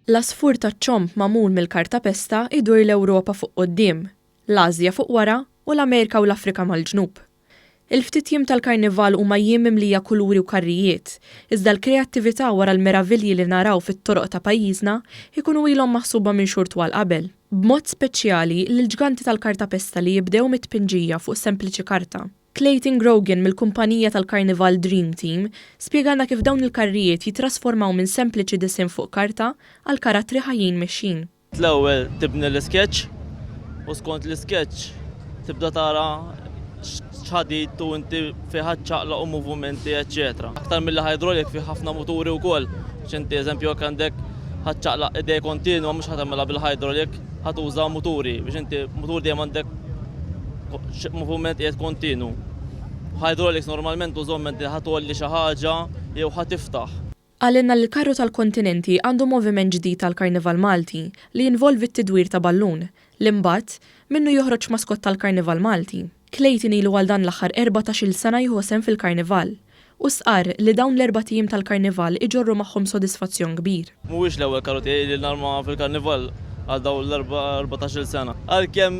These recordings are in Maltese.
L-għasfur taċ-ċomb magħmul mill-kartapesta jdur l-Ewropa fuq quddiem, l-Ażja fuq wara u l-Amerika u l-Afrika mal-ġnub. Il-ftit jiem tal-Karnival huma jiem mimlija kuluri u karrijiet, iżda l-kreattività wara l-meravilji li naraw fit-toroq ta' pajjiżna jkunu ilhom maħsuba minn xhur twal qabel. B'mod speċjali, lill-ġganti tal-kartapesta li jibdew mit-tpinġija fuq sempliċi karta. Clayton Grogan mill-kumpanija tal-karnival Dream Team spjegalna kif dawn il-karrijiet jittrasformaw minn sempliċi disinn fuq karta għal karattri ħajjin mexjin. L-ewwel tibni l-iskeċċ u skont l-iskeċċ tibda tara x'ħadid u inti fih ħadd ċaqlaq u movumenti eċċetera. Aktar milli hydraulic fih ħafna muturi wkoll biex inti eżempju jekk għandek ħadd ċaqlaq idej kontinwa mhux ħa tagħmilha bil-hydraulic ħa tuża muturi biex inti mutur dejjem għandek moviment qiegħed kontinu. Hydraulics normalment użomment li ħa tgħolli xi ħaġa jew ħa tiftaħ. Qalilna li l-Karru tal-Kontinenti għandu moviment ġdid għall-Karnival Malti li jinvolvi t-tidwir ta' ballun, li mbagħad, minnu joħroġ maskott tal-Karnival Malti. Clayton ilu għal dan l-aħħar erbatax-il sena jieħu sehem fil-Karnival. u stqarr li dawn l-erbat ijiem tal-Karnival iġorru magħhom sodisfazzjon kbir. Mhuwiex l-ewwel karru tiegħi li narma fil-Karnival għal dawn l-erbatax-il sena. Għalkemm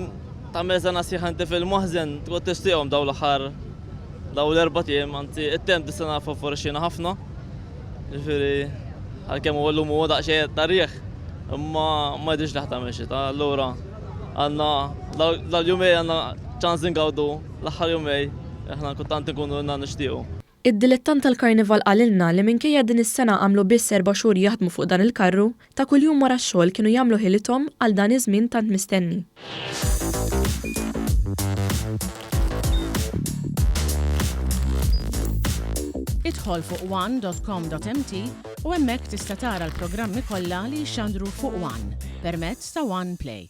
tagħmel sena sħiħa inti fil-maħżen, tgħod tixtieqhom dawn l-aħħar dawn l-erbat ijiem, anzi it-temp dis-sena fofforixxiena ħafna, jiġifieri għalkemm huwa llum huwa daqsxejn ta' riħ imma ma jidhirx li ħa tagħmel xita, allura għandna dal-jumejn għandna ċans ingawdu. L-aħħar jumej aħna kultant inkunu ilna nixtiequ. Id-dilettant tal-karnival qalilna li minkejja din is-sena għamlu biss erba' xhur jaħdmu fuq dan il-karru, ta' kuljum wara x-xogħol kienu jagħmlu ħilithom għal dan iż-żmien tant mistenni. Idħol fuq one dot com dot mt u hemmhekk tista' tara l-programmi kollha li jixxandru fuq one permezz ta' one play.